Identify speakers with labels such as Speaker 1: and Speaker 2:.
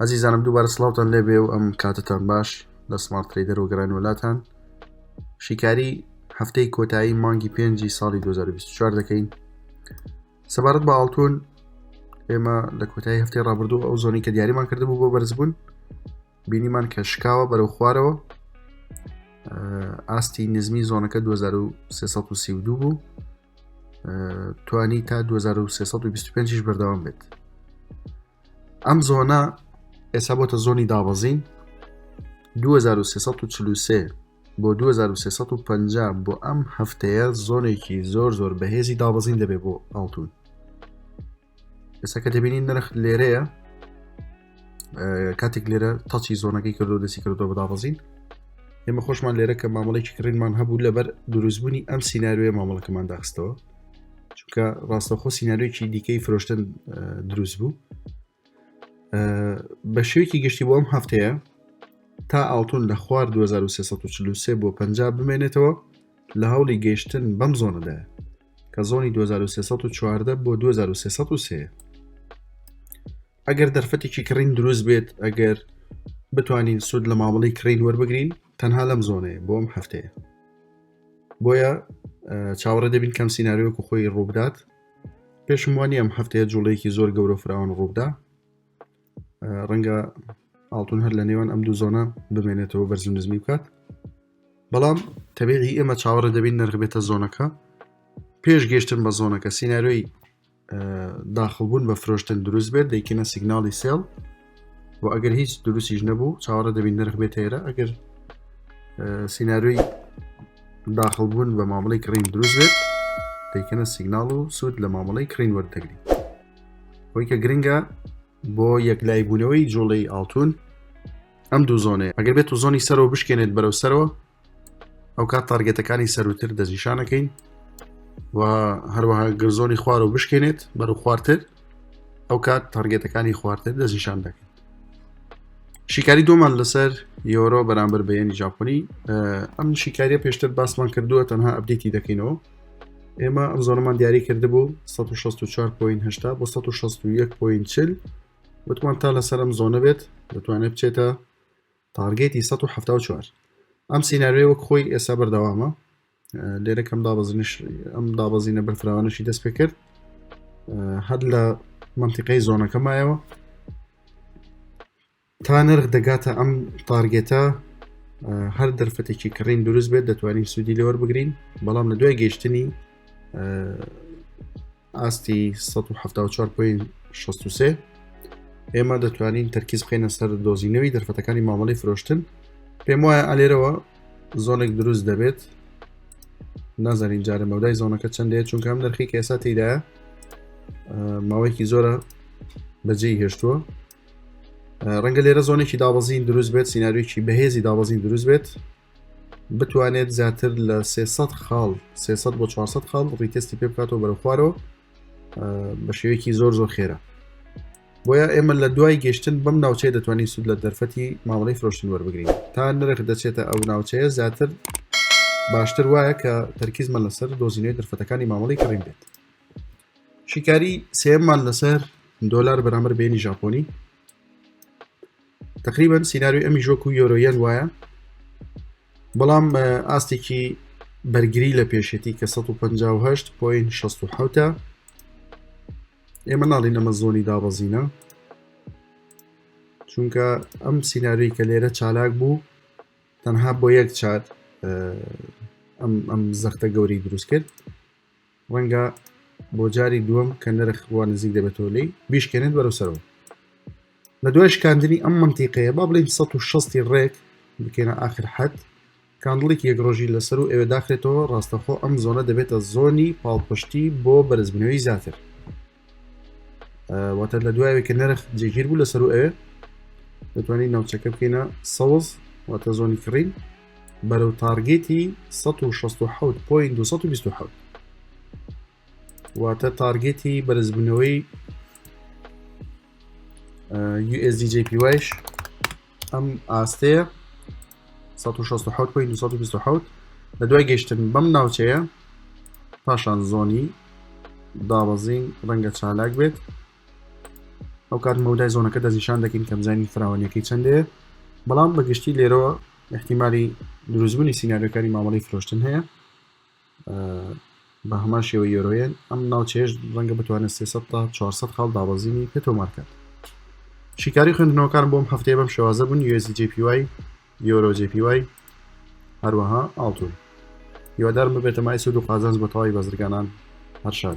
Speaker 1: ئەزیزانم دووبارە سلااوان لێ بێ و ئەم کاتتان باش لە سمارت تریدەر و گەران وڵاتان شیکاری هەفتەی کۆتایی مانگی پێنجی ساڵی 2024 دەکەین سەبارەت بە ئاڵتون ئێمە لە کۆتایی هەفتی ڕابردوو ئەو زۆنی کە دیاریمان کردبوو بۆ بەرزبوون بینیمان کە شکاوە بەرەو خوارەوە ئاستی نزمی زۆنەکە 2332 بوو توانی تا 2325 بەردەوام بێت ئەم زۆنە ئێستا بۆتە زۆنی دابەزین 2343 بۆ 2350 بۆ ئەم هەفتەیە زۆنێکی زۆر زۆر بەهێزی دابەزین دەبێت بۆ ئاڵتون ئێستا کە دەبینین نرخ لێرەیە کاتێک لێرە تاچی زۆنەکەی کردو دەسی کردو بە دابەزین ئێمە خۆشمان لێرە کە مامەڵێکی کڕینمان هەبوو لەبەر دروستبوونی ئەم سینناروێ مامەڵەکەمان داخستەوە چونکە ڕاستەخۆ سینناریۆکی دیکەی فرۆشتن دروست بوو بە شێوکی گشتی بۆم هەفتەیە تا ئاڵتون لە خوار 2343 بۆ پ بمێنێتەوە لە هەوڵی گەشتن بەم زۆنەدا کە زۆنی 2314 بۆ 2303 ئەگەر دەرفەتێکی کڕین دروست بێت ئەگەر بتوانین سود لە مامەڵی کڕین وەربگرین تەنها لەم زۆنەیە بۆم هەفتەیە بۆیە چاوەڕێ دەبین کەم سینناریۆک و خۆی ڕووبدات پێشم وانی ئەم هەفتەیە جوڵەیەکی زۆر گەورە فراوان ڕووبدا ڕەنگە ئاڵتون هەر لە نێوان ئەم دوو زۆنە بمێنێتەوە بەرزم نزمی بکات بەڵام تەبیعی ئێمە چاوەڕە دەبین نرخ بێتە زۆنەکە پێش گەشتن بە زۆنەکە سینناروی داخڵبوون بە فرۆشتن دروست بێت دەیکەنە سیگناڵی سێڵ و ئەگەر هیچ دروستیش نەبوو چاوەڕە دەبین نرخ بێت هێرە ئەگەر سینناروی داخڵبوون بە مامەڵی کڕین دروست بێت دەیکەنە سیگناڵ و سوود لە مامەڵی کڕین وەردەگری خۆی کە گرنگە بۆ یەکلای بوونەوەی جوڵەی ئاڵتون ئەم دوو زۆنەیە ئەگەر بێت و زۆنی سەرەوە بشکێنێت بەرەو سەرەوە ئەو کات تارگێتەکانی سەروتر دەستنیشانەکەین و هەروەها گرزۆنی خوار و بشکێنێت بەر و خوارتر ئەو کات تارگێتەکانی خوارتر دەستنیشان دەکەین شیکاری دومان لەسەر یۆرۆ بەرامبەر بەیەنی ژاپنی ئەم شیکاریە پێشتر باسمان کردووە تەنها ئەبدیتی دەکەینەوە ئێمە ئەم زۆرمان دیاری کرد بوو 1664.8 بۆ 1640 وتمان تا لەسەرم زۆنە بێت دەتوانێت بچێتە تارگێتی 1970 ئەم سینناریۆی وەک خۆی ئێستا بەردەوامە لێرەکەم دابەزنش ئەم دابەزینە بەرفراوانەشی دەست پێ کرد هەر لە منتیقەی زۆنەکەمایەوە تا نرخ دەگاتە ئەم تارگێتە هەر دەرفەتێکی کڕین دروست بێت دەتوانین سوودی لەوەربگرین بەڵام لە دوای گەشتنی ئاستی سەد و حەفتا و چوار پۆینت شەست و سێ ئێمە دەتوانین تەرکیز بخەینە سەر دۆزینەوەی دەرفەتەکانی مامەڵی فرۆشتن پێم وایە ئالێرەوە زۆنێک دروست دەبێت نازانین جارە مەودای زۆنەکە چەندەیە چونکە ئەم نرخی کە ئێستا تێدایە ماوەیەکی زۆرە بەجێی هێشتووە ڕەنگە لێرە زۆنێکی دابەزین دروست بێت سینناریوکی بەهێزی دابەزین دروست بێت بتوانێت زیاتر لە 300 خاڵ 300 بۆ 400 خاڵ ڕیتستی پێ بکاتەوە بەرە خوارەوە بە شێوەیەکی زۆر زۆر خێرە بۆیە ئێمە لە دوای گەشتن بەم ناوچەیە دەتوانین سود لە دەرفەتی مامەڵی فرۆشتن وەربگرین تا نرخ دەچێتە ئەو ناوچەیە زیاتر باشتر وایە کە تەرکیزمە لەسەر دۆزینەوەی دەرفەتەکانی مامەڵی کڕین بێت شیکاری سێمان لەسەر دۆلار بەرامەر بینی ژاپۆنی تقریبەن سینناروی ئەمیش وەکو یۆرۆیەن وایە بەڵام ئاستێکی بەرگری لە پێشێتی کە 1950 پوین 16 ئێمە ناڵین ئەمە زۆنی دابەزینە چونکە ئەم سینناروی کە لێرە چالاک بوو تەنها بۆ یەک چات ئەم زەختە گەوری دروست کرد ڕەنگە بۆ جاری دووەم کە نرخ وا نزیک دەبێتەوە لی بیشکێنێت بەرەو سەرەوە لە دوای شکاندنی ئەم منتیقەیە با بڵین 1600 ڕێک بکەینە آخر حد کاندڵێکی یەک ڕۆژی لەسەر و ئێوە داخرێتەوە ڕاستەخۆ ئەم زۆنە دەبێتە زۆنی پاڵپشتی بۆ بەرزبنەوەی زیاتر واتە لە دوایەوە کە نرخ جێگیر بوو لەسەر و ئەوێ دەتوانین ناوچەکە بکەینە سەوز واتە زۆنی کڕین بەرەو تارگێتی 1970.227 واتە تارگێتی بەرزبوونەوەی USDJPYش ئەم ئاستەیە 1970 لە دوای گەشتن بەم ناوچەیە پاشان زۆنی دابەزین ڕەنگە چالاک بێت ئەو کات مەودای زۆنەکە دەستنیشان دەکەین کەمزانی فراوانەکەی چندێ بەڵام بەگشتی لێرەوە احتیممالی دروستبوونی سینناریەکانی مامەڵی فرۆشتن هەیە بە هەمان شێوە یۆرۆیەن ئەم ناوچێش ڕەنگە بتوانێت 300 تا 400 خاڵ دابەزینی پێ تۆمارکات شیکاری خوێندنەوەکان بۆم هەفتەیە بەم شێوازە بوون یۆزی جیپی وای یۆرۆ جیپی وای هەروەها ئاڵتون هیوادارم ببێتە مای سود و قازانج بە تەواوی بەزرگانان هەرشاد